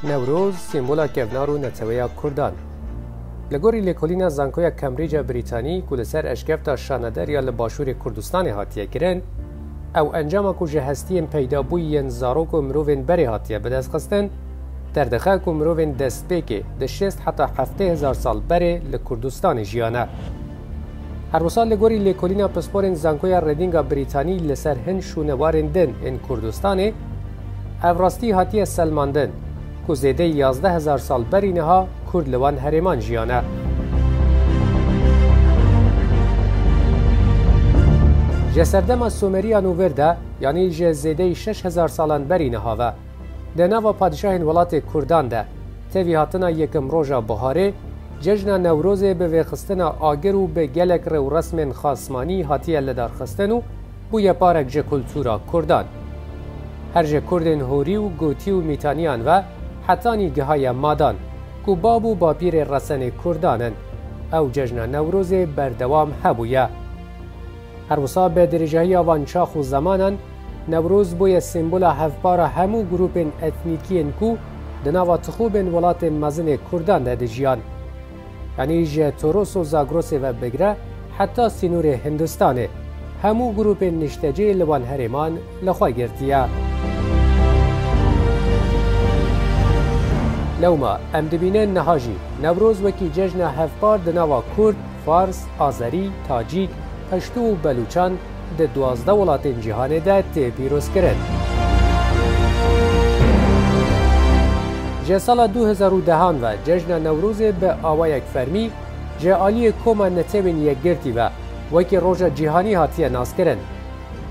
Newroz sîmbola kevnar û neteweya Kurdan e. Li gorî lêkolîna Zankoya Cambridge ya Brîtanî ku li ser eşkefta Şaneder ya li Başûrê Kurdistanê hatiye kirin, ew encama ku ji hestiyên peydabûyî yên zarok û mirovên berê hatiye bidestxistin, Derdixe ku mirovên destpêkê di şêst heta heftê hezar sal berê li Kurdistanê jiyane. Her wisa li gorî lêkolîna pisporên Zankoya Redinga Brîtanî li ser hin şûnewarên din ên Kurdistanê, ev rastî hatiye selmandin ku zêdeyî yazdeh hezar sal berî niha Kurd li wan herêman jiyane. Ji serdema Sumeriyan û vir de, yanî ji zêdeyî şeş hezar salan berî niha ve, Di nava padîşahên welatê Kurdan de tevî hatina yekim roja biharê, cejna Newrozê bi vêxistina agir û bi gelek rewresmên xasmanî hatiye lidarxistin û bûye parek ji kultura Kurdan. Her ji Kurdên Horî û Gotî û Mîtaniyan ve hetanî gihaye madan ku bab û bapîrê resenê Kurdan in. Ew cejna Newrozê berdewam hebûye. Her wisa bi dirîjahiya van çax û zemanan, Newroz bûye sembola hevpara hemû grûpên etnîkiyên ku di nava tixûbên welatên mezin ê kurdan de dijiyan. Yanî ji Toros û Zagrosê ve bigire heta sînorê Hindistanê, hemû grûpên niştecê li van herêman li xwe girtiye. Lewma em dibînin niha jî Newroz wekî cejna hevpar di nava kurd, Fars, Azerî, Tacîk, Peştû û Belûçan di duwazdeh welatên cîhanê de tê pîrozkirin. Ji sala du hezar û dehan ve cejna Newrozê bi awayek fermî ji aliyê Koma Netewên Yekgirtî ve wekî roja cîhanî hatiye naskirin.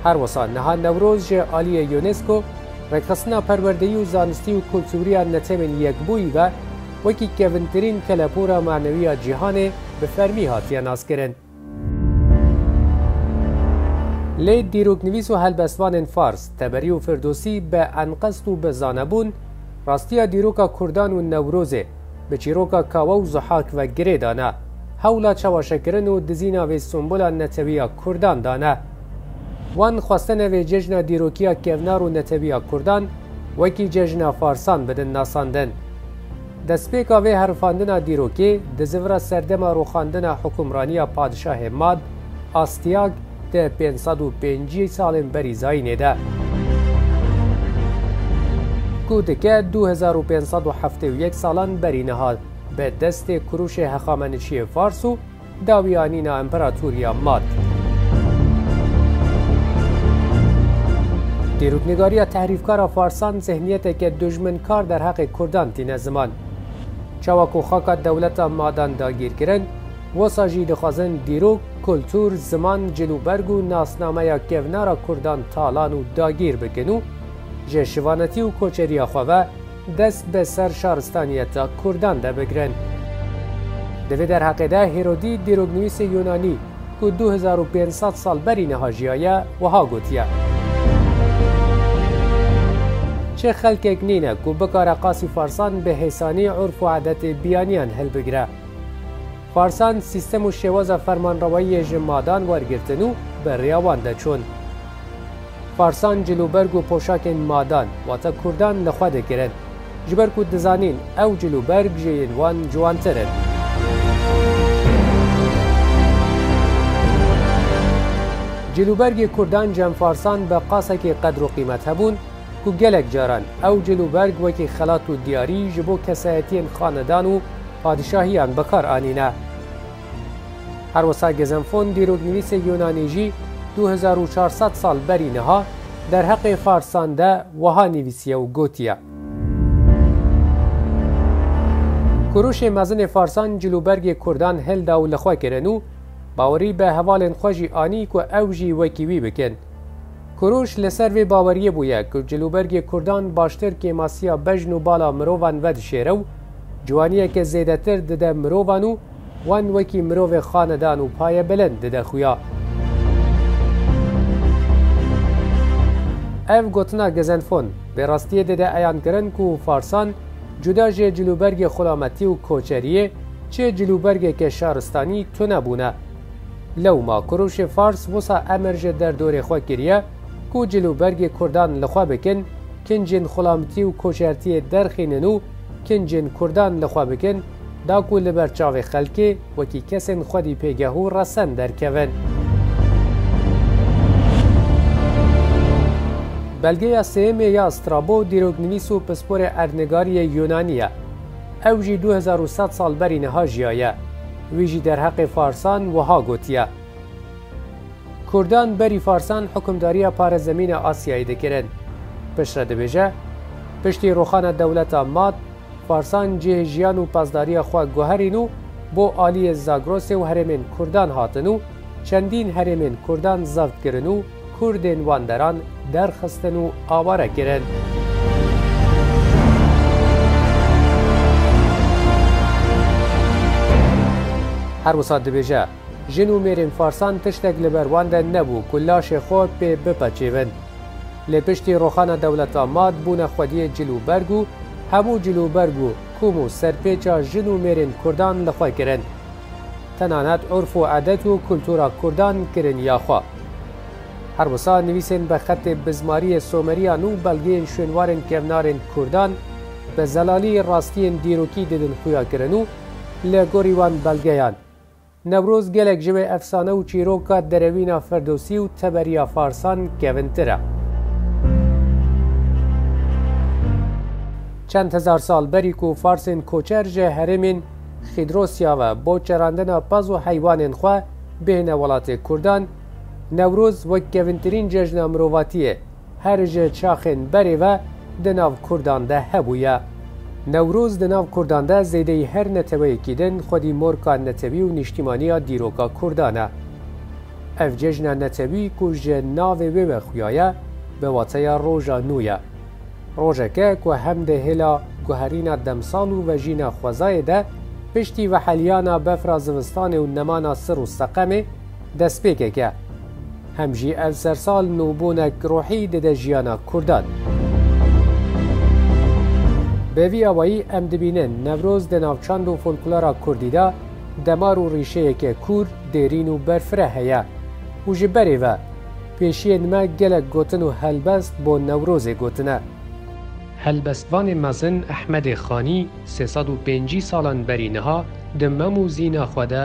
Her wisa niha Newroz ji aliyê UNESCO, Rêkxistina Perwerdeyî û Zanistî û Kultûriya Netewên Yekbûyî ve, Wekî kevintirîn kelepûra manewî ya cîhanê bi fermî hatiye naskirin. Lê dîroknivîs û helbestvanên Fars, Teberî û Firdosî bi enqest û bi zanebûn, rastiya dîroka Kurdan û Newrozê, bi çîroka Kawe û Zuhak ve girê dane, hewla çewaşekirin û dizîna vê simbula netewî ya Kurdan dane. Wan xwestene vê cejna dîrokiya kevnar û netewî ya Kurdan, wekî cejna Farsan bidin nasandin. Destpêka vê herifandina dîrokê di zivira serdema rûxandina hukûmraniya padişahê Mad, Astiag, di pênc sed û pêncî salên berî Zayînê de, ku dike du hezar û pênc sed û heftê û yek salan berî niha, bi destê kurûşê hexameniçiyê Fars û Dawiya nîna împeratoriya Mad. Dîroknigariya tehrîfkara farsan zihniyeteke dujminkar derheqê kurdan tîne ziman. Çawa ku xaka dewleta Madan dagîr kirin, wisa jî dixwazin dîrok, kultur, ziman, cilûberg û nasnameya kevnara kurdan talan û dagîr bikin û ji şivanetî û koçeriya xwe ve, Dest bi ser şaristaniyeta Kurdan de bigirin. Di vê derheqê de Hêrodî dîroknivîsê Yûnanî ku du hezar û pênc sed sal berî niha jiyaye wiha gotiye, Çi xelkek nîne ku bikare qasî farsan bi hêsanî urf û edetê biyaniyan hilbigire. Parsan sîstem û şêwaza fermanrewayiyê ji madan wergirtin û bi rêya wan de çûn. Parsan cilûberg û poşakên madan, wata kurdan li xwe dikirin. Ji ber ku dizanîn ew cilûberg ji yên wan ciwantir in. Cilûbergê kurdan cemfarsan bi qasekê qedr û qîmet hebûn ku gelek caran ew cilûberg wekî xelat û diyarî ji bo kesayetiyên xanedan û Padîşahiyan bikar anîne. Her wisa Gezenfon dîroknivîsê Yûnanî jî du hezar û çar sed sal berî niha derheqê Farsan de wiha nivîsiye û gotiye. Kuruşê mezinê Farsan cilûbergê Kurdan hilda û li xwe kirin û bawerî bi hevalên xwe jî anî ku ew jî wekî wî bikin. Kuruş li ser vê baweriyê bûye ku cilûbergê Kurdan baştir kêmasiya bejn û bala mirovan vedişêre û Ciwaniyeke zêdetir dide mirovan û wan wekî mirovê xanedan û payebilind dide xuya. Ev gotina Gezenfon bi rastiyê dide eyan kirin ku Farsan cuda ji cilûbergê xulametî û koçeriyê çi cilûbergeke şaristanî tune bûne. Lewma kurûşê Fars wisa emir ji derdorê xwe kiriye ku cilûbergê kurdan li xwe bikin, kincên xulametî û koçertiyê derxînin û Kincên Kurdan li xwe bikin, da ku li ber çavê xelkê wekî kesên xwedî pêgeh û resen derkevin. Belgeya sêyemê ya Strabo dîroknivîs û pisporê erdnigariyê Yûnanî ye. Ew jî du hezar û sed sal berî niha jiyaye. Wî jî derheqê Farsan wiha gotiye. Kurdan berî Farsan hukimdariya parezemîna Asyayê dikirin. Piştre dibêje, Piştî rûxana dewleta Mad, Farsan cihê jiyan û pazdariya xwe guherîn û bo aliyê Zagrosê û herêmên Kurdan hatin û çendîn herêmên Kurdan zevt kirin û Kurdên wan deran derxistin û aware kirin. Her wisa dibêje, Jin û mêrên farsan tiştek li ber wan de nebû ku laşê xwe pê bipeçêvin. Lê piştî roxana dewleta mat bûne xwediyê cil û berg û hemû cil û berg û kom û serpêça jin û mêrên kurdan li xwe kirin. Tenanet urf û edet û kultura kurdan kirin ya xwe. Her wisa nivîsên bi xetê bizmariyê someriyan û belgeyên şwênwarên kevnarên kurdan bi zelalî rastiyên dîrokî didin xuya kirin û li gorî wan belgeyan, Newroz gelek ji wê efsane û çîroka Derewîna Ferdosî û teberiya Farsan kevintir e. Çend hezar sal berî ku Farsên koçer ji herêmên Xîdrosya ve bo çerandina pez û heywanên xwe bêhne welatê Kurdan, Newroz wek kevintirîn cejna mirovatiyê, Her ji çaxên berê ve di nav Kurdan de hebûye. Newroz di nav Kurdan de zêdeyî her neteweyekî din xwedî morka netewî û nîştîmanî ya dîroka Kurdan e. Ev cejna netewî ku ji navê wê ve xuyaye bi wateya roja nû ye. Rojeke ku hem di hêla guherîna demsal û vejîna xwezayê de piştî veheliyana befra zivistanê û nemana sir û seqemê, destpêkeke hem jî ev sersal nûbûnek ruhî dide jiyana Kurdan. Bi vî awayî em dibînin Newroz di navçand û folklora Kurdî de demar û rîşeyeke kûr, dêrîn û berfireh heye û ji berê ve pêşiyên me gelek gotin û helbest bo Newrozê gotine. Helbestvanê mezin Ehmedê Xanî sê sed û pêncî salan berî niha di mem û zîna xwe de,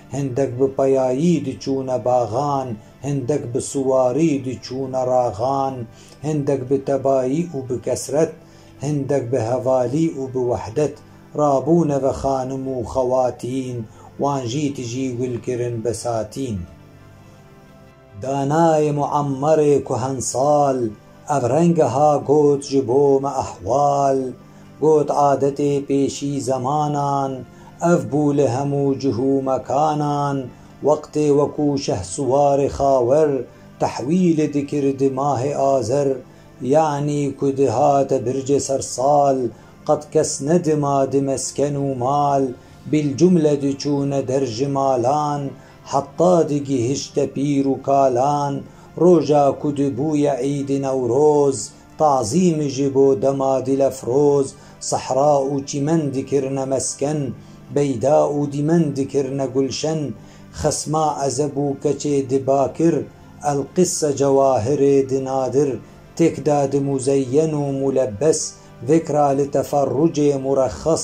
Hindek bi peyayî diçûne baxan, hindek bi siwarî diçûne raxan, hindek bi tebayî û bi kesret, hindek bi hevalî û bi wehdet rabûne ve xanim û xewatîn, wan jî tijî wil kirin besatîn. Danayê Muammerê Kuhensal ev renge ha got ji bo me ehwal, got adetê pêşî zemanan ev bû li hemû cih û mekanan wextê wekû Şehsuwarê Xawer tehwîlê dikir di mahê Azer yanî ku dihate bircê sersal qet kes nedima di mesken û mal bîlcumle diçûne der ji malan Heta digihişte pîr û kalan, roja ku dibûye Îdî Newroz, tazîm ji bo dema Dilefroz, sehra û çîmen dikirine mesken, beyda û dîmen dikirine gulşen, xesma ezeb û keçê di bakir, elqisse cewahirê di nadir, têk da di muzeyyen û mulebes, vêkra li teferrucê murexxes,